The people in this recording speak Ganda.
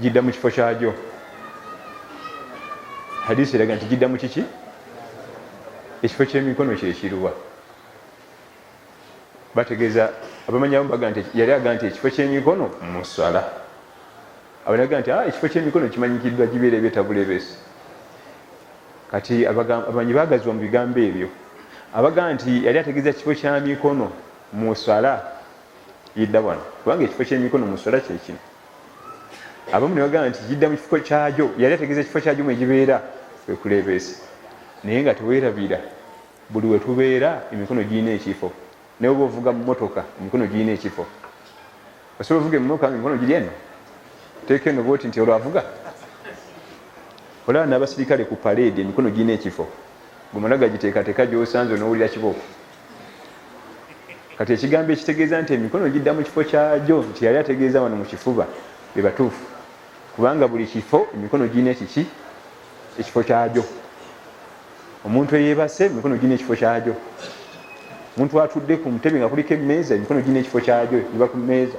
gidda mu kifo kyagyo hadisi eraga nti gidda mu kiki ekifo kyemikono kyekiruwa bategeeza abamanyamu baga nti yali aga nti ekifo kyemikono musala abanaga nti ah, ekifo kyemikono kimanyikiddwa gibeera ebyetabulebesi kati abamanyi bagazibwa mu bigambo ebyo abaga nti yali ategeeza kifo kya mikono musala yidda wano kubanga ekifo kyemikono musala kyekino abamu ne bagamba nti gidda mu kifo kyagyo yali ategeeza ekifo kyagyo mwegibeera wekuleebeesa naye nga teweerabira buli wetubeera emikono girina ekifo naye oba ovuga mumotoka emikono girina ekifo osobola ovuga emotoka nga emikono giri eno teeka eno bwoti nti olwavuga olaba n'abasirikale ku paleedi emikono girina ekifo gumala gagiteekateeka gyosanze onowulira kiboko kati ekigambo ekitegeeza nti emikono gidda mu kifo kyagyo nti yali ategeeza wano mu kifuba be batuufu kubanga buli kifo emikono girina ekiki ekifo kyagyo omuntu eyebase emikono girina ekifo kyagyo omuntu atudde ku mutebe nga kuliko emmeeza emikono girina ekifo kyagyo iba ku mmeeza